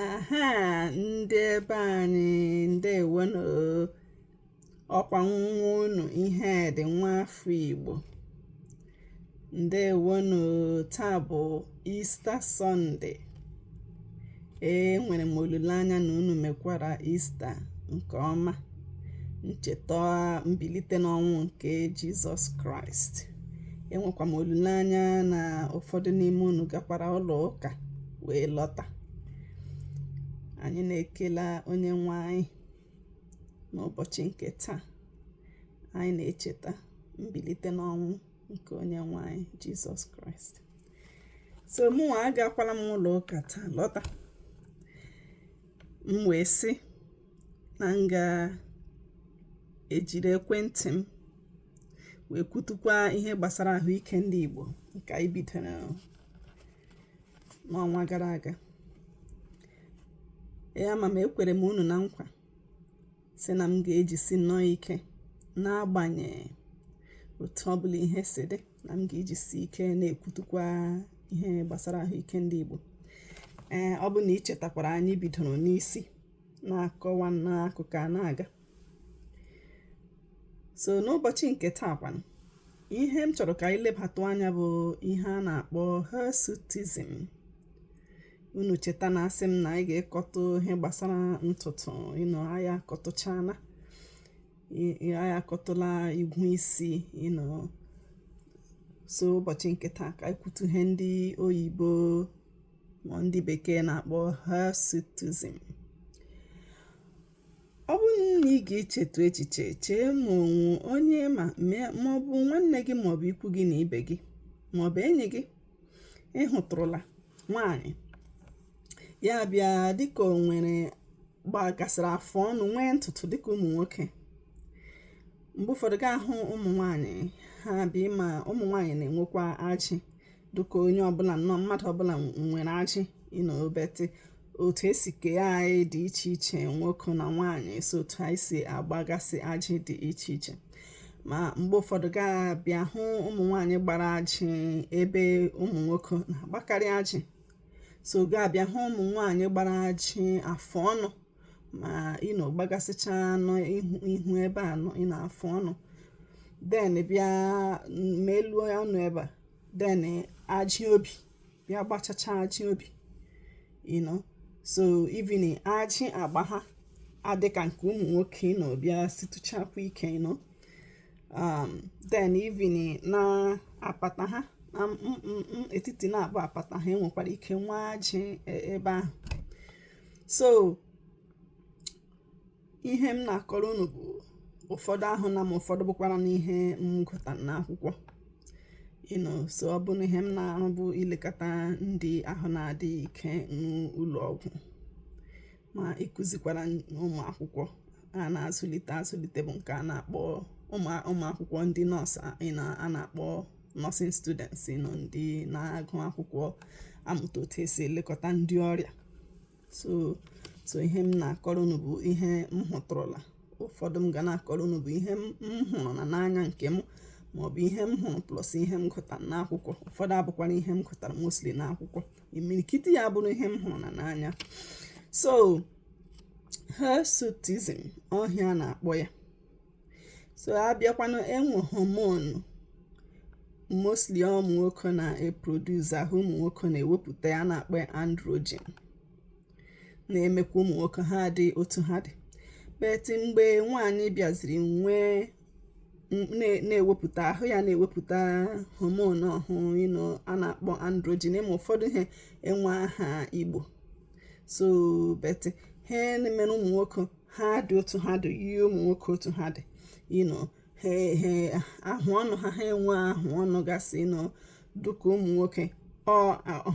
aha ndị ebe anyị ndewonụ ọkwa nwa unu Ihedị nwa afọ Igbo ndewonụ taa bụ Easter Sunday enwere m olileanya na unu mekwara Easter nke ọma ncheta mbilite n'ọnwụ nke Jizọs Kraịst enwekwa m olileanya na ụfọdụ n'ime unu gakwara ụlọ ụka wee lọta anyị na-ekele onye nwe anyị n'ụbọchị nke taa anyị na-echeta mbilite n'ọnwụ nke onye nwe anyị Jizọs Kraịst so mụnwa agakwala m ụlọ ụka taa lọta m wee sị na m ga-ejiri ekwentị m wee kwutukwa ihe gbasara ahụike ndị Igbo nke anyị bidoro n'ọnwa gara aga ya ma ma ekwere m unu na nkwa sị na m ga-ejisi nnọọ ike n'agbanyeghị otu ọ bụla ihe si dị na m ga-ejisi ike na-ekwutukwa ihe gbasara ahụike ndị Igbo ee ọ bụ na i chetakwara anyị bidoro n'isi na-akọwa n'akụkọ a na-aga so n'ụbọchị nke taa kwanụ ihe m chọrọ ka anyị lebatụ anya bụ ihe a na-akpọ hirsutism unu cheta na asị m na anyị ga-ekwutu ihe gbasara ntutu you know anyị akọtụchana anyị akọtụla igwu isi you know so ụbọchị nke taa ka anyị kwutu ihe ndị oyibo ma ndị bekee na-akpọ hirsutism Ọ bụrụ na ị ga-echetụ echiche chee ma o nwee onye ma ma ọ bụ nwanne gị ma ọ bụ ikwu gị na ibe gị ma ọ bụ enyi gị ị hụtụrụla nwaanyị ya bịa dịka o nwere gbagasịrị afụ ọnụ nwee ntutu dịka ụmụ nwoke mgbe ụfọdụ gị ahụ ụmụ nwaanyị ha abịa ị ma ụmụ nwaanyị na-enwekwa ajị dịka onye ọbụla nnọọ mmadụ ọbụla nwere ajị you know but otu e si kee anyị dị iche iche nwoke na nwaanyị so otu anyị si agbagasị ajị dị iche iche ma mgbe ụfọdụ gị abịa hụ ụmụ nwaanyị gbara ajị ebe ụmụ nwoke na-agbakarị ajị so gị abịa hụ ụmụ nwaanyị gbara ajị afụ ọnụ ma you know gbagasịcha n'ihu ebe a you know afụ ọnụ then bịa ma elu ọnụ ebe a then ajị obi bịa gbachacha ajị obi you know so even ajị agba ha adị ka nke ụmụ nwoke you know bịa situchakwa ike you know um, then even na apata ha na etiti na-abụ apata ha enwekwara ike nwee ajị e, ebe ahụ so ihe m na-akọrọ unu bụ ụfọdụ ahụna m ụfọdụ bụkwara n'ihe m gụta n'akwụkwọ you know so ọ bụ na ihe m na-arụ bụ ilekọta ndị ahụ na-adịghị ike n'ụlọ ọgwụ ma ịkụzikwara ụmụ akwụkwọ a na-azụlite azụlite bụ nke a na-akpọ ụmụ akwụkwọ ndị nọọsụ a na-akpọ nursing students you know ndị na-agụ akwụkwọ amụta otu esi elekọta ndị ọrịa so so ihe m na-akọrọ unu bụ ihe m hụtụrụla ụfọdụ m ga na-akọrọ unu bụ ihe m hụrụna n'anya nke m maọbụ ihe m hụrụ plus ihe m gụtara n'akwụkwọ ụfọdụ abụkwara ihe m gụtara mostly n'akwụkwọ imirikiti ya bụrụ ihe m hụrụna n'anya so hirsutism ọ ihe a na-akpọ ya so abịakwanụ enwe hormone mostly ụmụ nwoke na-eproduce ahụ ụmụ nwoke na-ewepụta a na-akpọ androgen na-emekwa ụmụ nwoke ha dị otu ha dị but mgbe nwaanyị bịaziri nwee na-ewepụta ahụ ya na-ewepụta hormone ahụ you know a na-akpọ androgen ị ma ụfọdụ ihe a enweghị aha igbo so but ihe na-emere ụmụ nwoke ha dị otu ha dị yie ụmụ nwoke otu ha dị you know ha ahụ ọnụ ha ha enwe ahụ ọnụ gasị you know dịka ụmụ nwoke ọ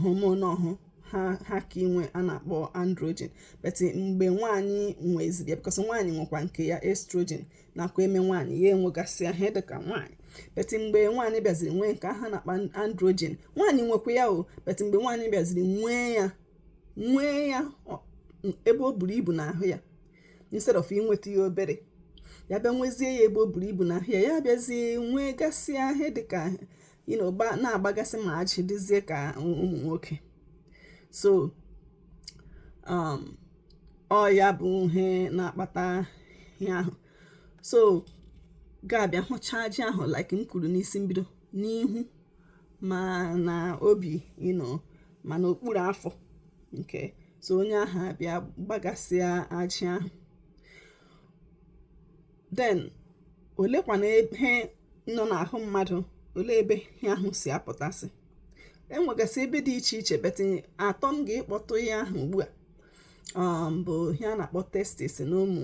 hormone ahụ ha ha ka inwe a na-akpọ androgen but mgbe nwaanyị nweziri ya because nwaanyị nwekwa nke ya estrogen nakwa eme nwaanyị ya enwegasị ahụ dị ka nwaanyị but mgbe nwaanyị bịaziri nwee nke ahụ a na-akpọ androgen nwaanyị nwekwa ya o but mgbe nwaanyị bịaziri nwee ya nwee ya ebe o buru ibu n'ahụ ya instead of inweta ya obere ya bịa nwezie ya ebe o buru ibu n'ahụ ya ya bịazie nwee gasị ahụ dị ka na-agbagasị ma ajị dịzie ka ụmụ nwoke so um, ọ ya bụ ihe na-akpata ihe ahụ so ị ga-abịa hụcha ajị ahụ like m kwuru n'isi mbido n'ihu ma na obi you know ma na okpuru afọ okay so onye ahụ abịa gbagasịa ajị ahụ then olekwanụ ebe nọ n'ahụ mmadụ olee ebe ihe ahụ si apụtasị enwegasị ebe dị iche iche but atọ m ga-ekpọtụ ya aha ugbu a um, bụ ihe a na-akpọ testis n'ụmụ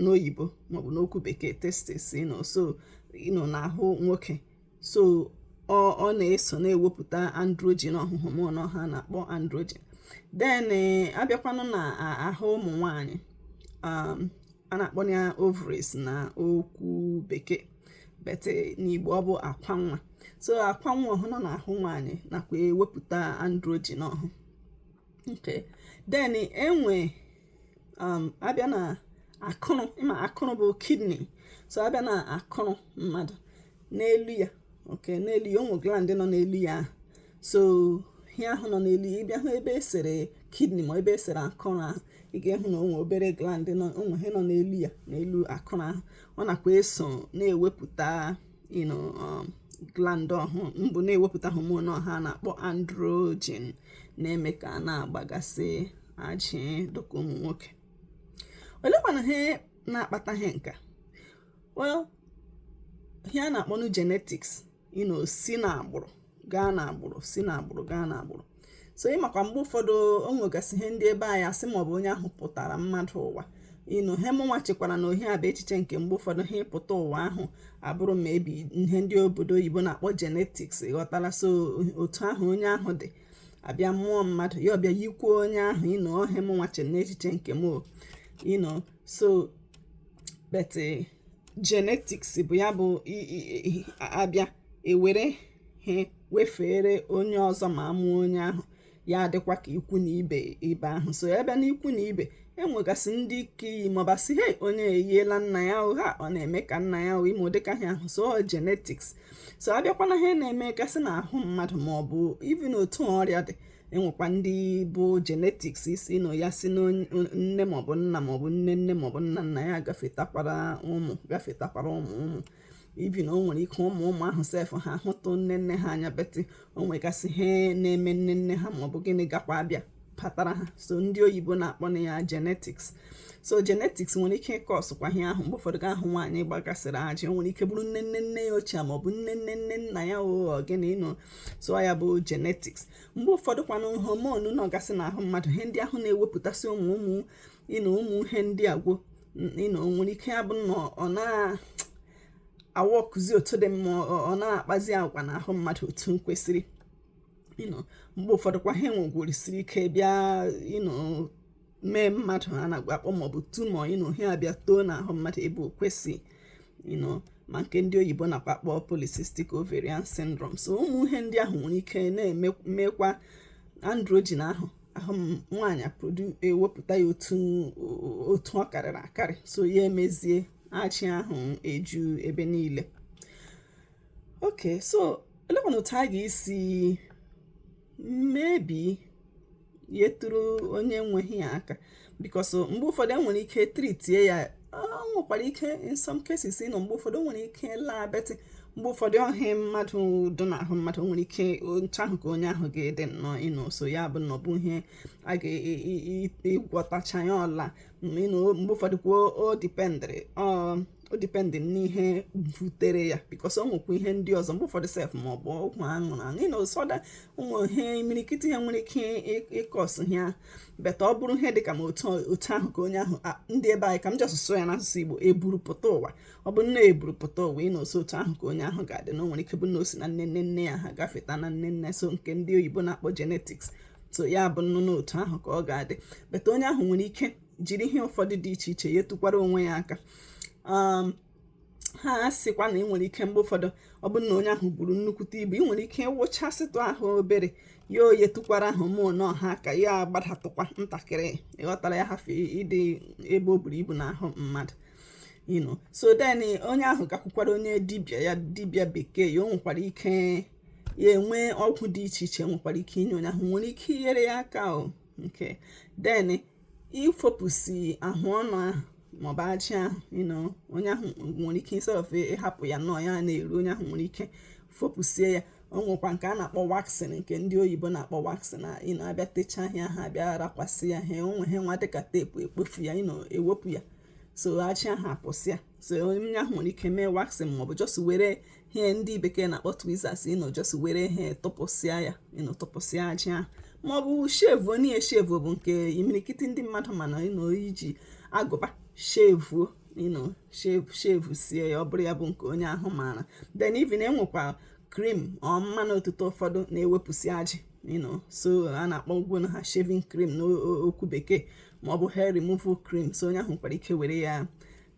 n'oyibo maọbụ n'okwu bekee testis you know so you know n'ahụ nwoke so ọ ọ na-eso na-ewepụta androgen ọhụhụ mụ na ọha na-akpọ androgen then eh, abịakwanụ na a- ahụ ụmụ nwanyị um, a na-akpọ ya ovaries na okwu bekee but eh, n'igbo ọ bụ akwa nwa so akwa nwa ọhụ nọ n'ahụ nwanyị nakwa ewepụta androgen ọhụ okay then enwe um, abịa na akụrụ ịma akụrụ bụ kidney so abịa na akụrụ mmadụ n'elu ya okay n'elu ya ụmụ gland nọ n'elu ya so ihe ahụ nọ n'elu ya ịbịa hụ ebe esere kidney ma ebe esere akụrụ ahụ ị ga-ehụ na o nwe obere gland o nwe ihe nọ n'elu ya n'elu akụrụ ahụ ọ nakwa eso na-ewepụta you know um, gland ọhụ mbụ na-ewepụta hormone ọhụ a na-akpọ androgen na-eme ka a na-agbagasị ajị dịka ụmụ nwoke olekwana ihe na-akpata ihe nka well ihe a na-akpọnụ genetics you know si na agbụrụ gaa na agbụrụ si na agbụrụ gaa na agbụrụ so ịmakwa mgbe ụfọdụ o nwegasị ihe ndị ebe anyị asị maọbụ onye ahụ pụtara mmadụ ụwa you know ihe mụnwa chekwara na ihe a bụ echiche nke m mgbe ụfọdụ ihe ịpụta ụwa ahụ abụrụ maybe ihe ndị obodo oyibo na-akpọ genetics ịghọtala so otu ahụ onye ahụ dị abịa mụọ mmadụ ya abịa yikwuo onye ahụ you know ọ ihe mụnwa che n'echiche nke m you know so but eh, genetics bụ ya bụ abịa ewere ihe wefeere onye ọzọ ma amụọ onye ahụ ya adịkwa ka ikwu na ibe ibe ahụ so ya bịa n'ikwu na ibe enwegasị ndị ga-eyi maọbụ asị he onye eyiela nna ya o ha ọ na-eme ka nna ya ime ụdịka ihe ahụ so genetics so abịakwa na ihe na-emegasị na ahụ mmadụ ma ọ bụ even otu ọrịa dị enwekwa ndị bụ genetics isi na ya si na nne maọbụ nna maọbụ nne nne maọbụ nna nna ya gafetakwara ụmụ gafetakwara ụmụ ụmụ even o nwere ike ụmụ ụmụ ahụ sef ha hụtụ nne nne ha anya but o nwegasị ihe na-eme nne nne ha maọbụ gịnị gakwa abịa patara ha so ndị oyibo na-akpọnụ ya genetics so genetics nwere ike ị-causekwa ihe ahụ mgbe ụfọdụ ị ga-ahụ nwaanyị gbagasịrị ajị o nwere ike bụrụ nne nne nne ya ochie ma ọ bụ nne nne nne nna ya or gịnị you know so ya bụ genetics mgbe ụfọdụ kwanụ hormone nọgasị n'ahụ mmadụ ihe ndị ahụ na-ewepụtasị ụmụ ụmụ you know ụmụ ihe ndị agwo you know nwere ike abụ na ọ na aworkzi otu dị mma ọ na-akpazi agwa n'ahụ mmadụ otu m kwesịrị mgbe ụfọdụ kwa ihe nwegwurisiri ike bịa mee mmadụ a nakwa akpọ maọbụ tumor you know ihe abịa too n'ahụ mmadụ ebe o kwesị you know ma nke ndị oyibo nakwa akpọ polycystic ovarian syndrome so ụmụ ihe ndị ahụ nwere ike na-emekwa androgen ahụ ahụ nwaanyị ewepụta ya otu ọ karịrị akarị so ya emezie ajị ahụ eju ebe niile okay so olee kwanụ otu a ga-esi maybe yetụrụ onye nwe ihe a aka because mgbe ụfọdụ enwere ike treatie ya nwekwara ike in some cases you know mgbe ụfọdụ nwere ike laa but mgbe ụfọdụ ọ ihe mmadụ dụ n'ahụ mmadụ nwere ike otu ahụ ka onye ahụ ga-adị nnọọ you know so ya bụ na ọ bụ ihe a ga-agwọtacha ya ọ laa you know mgbe ụfọdụ kwa ọ depend n'ihe butere ya because o nwekwa ihe ndị ọzọ mgbe ụfọdụ sef ma ọ bụ ọgwụ aṅụrụ aṅụ you know so ụmụ ihe imirikiti ihe nwere ike ịcause ya but ọ bụrụ ihe dị ka ma otu ahụ ka onye ahụ ndị be anyị ka m ji asụsụ ya n'asụsụ Igbo eburupụta ụwa ọ bụ na eburupụta ụwa you know so otu ahụ ka onye ahụ ga-adị na o nwere ike bụ na o si na nne nne nne ya ha gafeta na nne nne so nke ndị oyibo na-akpọ genetics so ya bụnụ na otu ahụ ka ọ ga-adị but onye ahụ nwere ike jiri ihe ụfọdụ dị iche iche yetụkwara onwe ya aka um, ha sịkwa na ị nwere ike mgbe ụfọdụ ọ bụrụ na onye ahụ buru nnukwute ibu ị nwere ike ịwụchasịtụ ahụ obere ya eyetụkwara hormone ahụ aka ya agbadatụkwa ntakịrị ị ghọtara ya hafe ịdị ebe o buru ibu n'ahụ mmadụ you know so then onye ahụ gakwukwara onye dibịa ya dibịa bekee ya o nwekwara ike ya enwee ọgwụ dị iche iche nwekwara ike inye onye ahụ nwere ike inyere ya aka okay then ifopụsi ahụ ọnụ ahụ maọbụ ajị ahụ you know onye ahụ nwere ike instead ịhapụ ya nnọọ ya na-eru onye ahụ nwere ike fopụsie ya o nwekwa nke a na-akpọ waxing nke ndị oyibo na-akpọ waxing you know a bịa techaa ihe ahụ a bịa rakwasị ya ihe o nwe ihe nwa dịka tape ekpofu ya you know ewepụ ya so ajị ahụ apụsịa so onye ahụ nwere ike mee waxing maọbụ just were ihe ndị bekee na-akpọ tweezers you know just were ihe tụpụsịa ya you know tụpụsịa ajị ahụ maọbụ shave you know shave bụ nke imirikiti ndị mmadụ maara you know iji agụba shave you know shave shavesie ya ọ bụrụ ya bụ nke onye ahụ maara then even enwekwa cream or mmanụ otite ụfọdụ na-ewepụsị ajị you know so a na-akpọkwanụ ha shaving cream n'okwu bekee ma ọ bụ hair removal cream so onye ahụ nwekwara ike were ya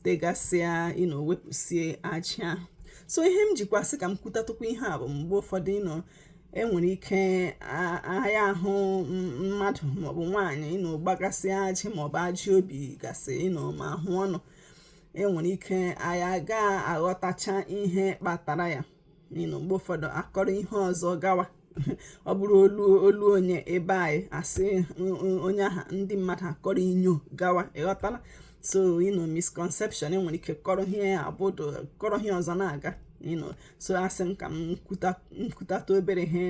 tegasịa you know wepụsie ajị ahụ so ihe m jikwa sị ka m kwutatụkwa ihe a bụ mgbe ụfọdụ you know enwere ike a ya ahụ mmadụ maọbụ nwaanyị you know gbagasị ajị maọbụ ajị obi gasị you know ma ahụ ọnụ enwere ike anyị aga aghọtacha ihe kpatara ya you know mgbe ụfọdụ akọrọ ihe ọzọ gawa ọ bụrụ olu olu onye be anyị asị onye aha ndị mmadụ akọrọ inyo gawa ị ghọtala so you know misconception enwere ike kọrọ ihe abụdụ kọrọ ihe ọzọ na-aga you know so asị m ka m kwutatụ obere ihe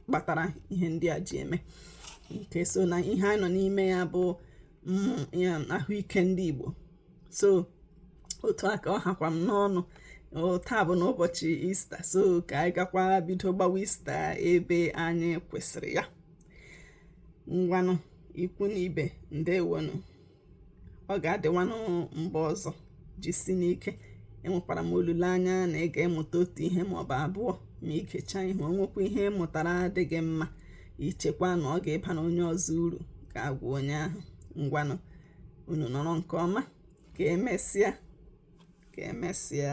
kpatara ihe ndị a ji eme okay so na ihe anyị nọ n'ime ya bụ mm, ahụike ndị Igbo so otu a ka ọ hakwa m n'ọnụ taa bụnụ ụbọchị ista so ka anyị gakwa bido gbawa ista ebe anyị kwụsịrị ya ngwanụ ikwu na ibe ndewonụ ọ ga-adịwanụ mgbe ọzọ jisinụ ike enwekwara m olileanya na ị ga-emụta otu ihe maọbụ abụọ ma i gechaa ihe o nwekwa ihe ị mụtara dị gị mma i chekwa na ọ ga-ịbanụ onye ọzọ uru gaa gwa onye ahụ ngwanụ unu nọrọ nke ọma ka emesịa ka emesịa